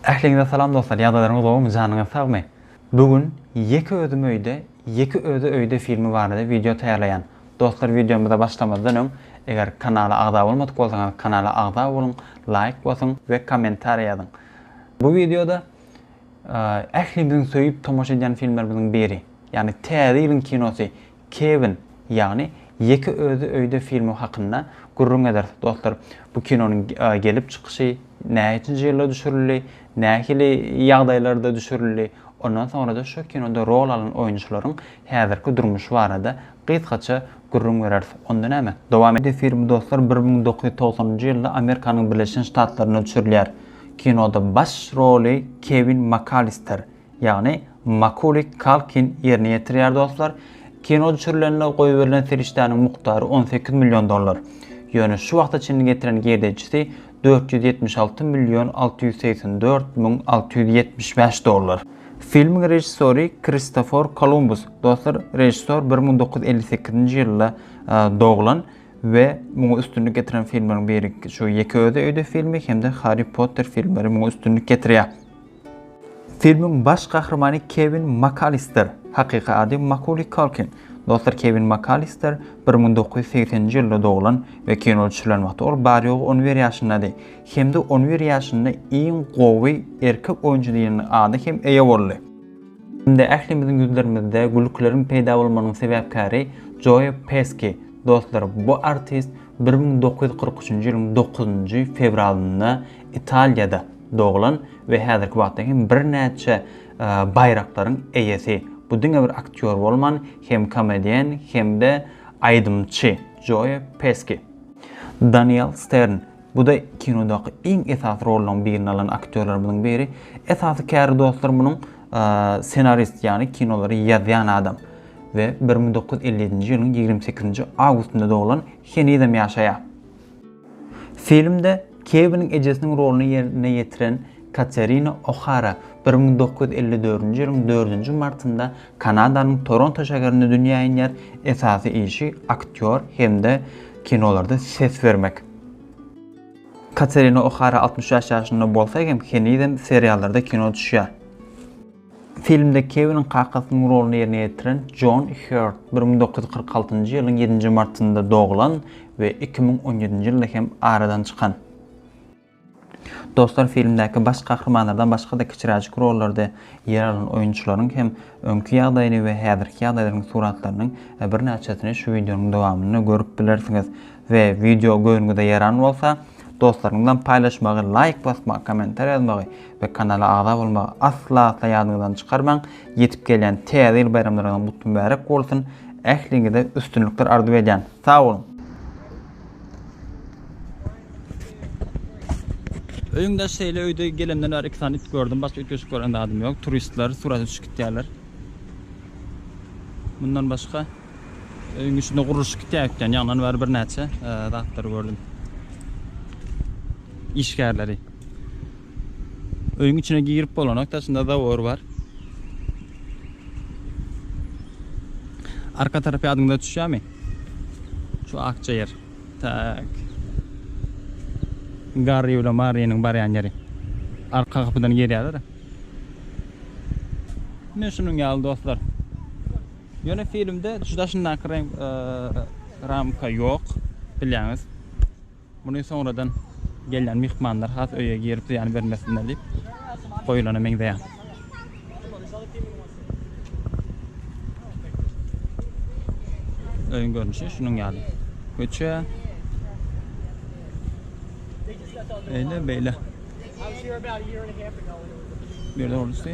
Ähliňize salam dostlar ýagdaýlaryňyz gowumy janyňyz sagmy bu gün ýeke özüm öýde ýeke özi öýde filmi barada wideo taýýarlaýan dostlar wideomyza başlamazdan öň eger kanala agza bolmadyk bolsaňyz kanala agza boluň laýk basyň we kommentariýa ýazyň bu wideoda ählimiziň söýüp tomaşa edýän filmlerimiziň biri ýagny täze ýylyň kinosy Kewin, ýagny Ýeke özi öýde filmi hakynda gürrüň ederis. Dostlar, bu kinonyň gelip çykyşy, näçinji ýylda düşürildi, nähili ýagdaýlarda düşürildi, ondan soňra-da şu kinoda rol alan oýunçylaryň häzirki durmuşy barada gysgaça gürrüň bereris. Onda näme, dowam edeliň! Film, dostlar, bir müň dokuz ýüz togsanynjy ýylda Amerikanyň Birleşen Ştatlarynda düşürilýär. Kinoda baş roly Kewin Makalister, Ýagny Makuli Kalkin ýerine ýetirýär dostlar. Kino düşürilende goýberilen serişdäniň mukdary on sekiz million dollar. Ýöne şu wagta çenli getiren girdejisi dört ýüz ýetmiş alty million alty ýüz segsen dört müň alty ýüz ýetmiş bäş dollar. Filmiň režissory Kristofor Kolumbus. Dostlar, režissor bir müň dokuz ýüz elli sekizinji ýylda doglan we muňa üstünlik getiren filmleriň biri şu Ýeke özi öýde filmi hem-de Harri Potter filmleri muňa üstünlik getirýär. Filmiň baş gahrymany Kewin Makalister, hakyky ady Makuli Kalkin. Dostlar, Kewin Makalister bir müň dokuz ýüz segsen nji ýylda doglan we kino düşürilen wagty ol bary-ýogy on bir ýaşyndady hem-de on bir ýaşynda iň gowy erkek oýunçy diýen ada hem eýe boldy. Indi ählimiziň ýüzlerimizde gülküleriň peýda bolmagynyň sebäpkäri Joe Peski. Dostlar, bu artist bir müň dokuz ýüz kyrk üçünji ýylyň dokuzynjy fewralynda Italiýada, doglan we häzirki wagtda hem birnäçe baýraklaryň eýesi, bu diňe bir aktýor bolman, hem komediýen hem-de aýdymçy Joe Peski. Daniel Stern, bu-da kinodaky iň esasy rollaryň birini alan aktýorlarymyzyň biri. Esasy käri dostlar munuň ssenarist, ýagny kinolary ýazýan adam we bir müň dokuz ýüz elli ýedinji ýylyň ýigrimi sekizinji awgustynda doglan, henizem ýaşaýar. Filmde Kewiniň ejesiniň roluny ýerine ýetiren Katerina Ohara bir müň dokuz ýüz elli dördünji ýylyň dördünji martynda Kanadanyň Toronto şäherinde dünýä inýär, esasy işi aktýor hem-de kinolarda ses bermek. Katerina Ohara altmyş bäş ýaşynda bolsa hem henizem seriallarda kino düşýär. Filmde Kewiniň kakasynyň roluny ýerine ýetiren Jon Hýurt bir müň dokuz ýüz kyrk altynjy ýylyň ýedinji martynda doglan we iki müň on ýedinji ýylda hem aradan çykan. Dostlar filmdäki baş gahrymanlardan başga-da kiçiräjik rollarda ýer alan oýunçylaryň hem öňki ýagdaýyny we häzirki ýagdaýlaryň suratlarynyň birnäçesini şu wideonyň dowamynda görüp bilersiňiz. we wideo göwnüňize ýaran bolsa dostlaryňyz bilen paýlaşmagy laýk basmagy kommentariýa ýazmagy we kanala agza bolmagy asla asla ýadyňyzdan çykarmaň ýetip gelýän täze ýyl baýramlaryňyz mutly mübärek bolsun ähliňize üstünlikler arzuw edýän sag boluň. Öýüň daş şeýle öýde gelemden bäri iki sany it gördüm başga ütgeşik gören zadym ýok turistler surata düşüp gitýärler mundan başga Öýüň içinde gurluşyk gitýär eken. Ýaňdan bäri birnäçe zatlary gördüm. Işgärleri. Öýüň içine girip bolanok, daşynda zawor bar. Arka tarapy adyňda düşýärmi? Şu akja ýer. Tak. Garry bilen Marynyň barýan ýeri. Arka gapydan girýärler. Men şunuň ýaly dostlar. Ýöne filmde juda şundaky reňk ramka ýok bilýäňiz. Muny soňradan gelýän myhmanlar has öýe girip zyýan bermesinler diýip goýulana meňzeýär. Öýüň görnüşi şunuň ýaly. Köçe. Eýle beýle. Bir de orusy.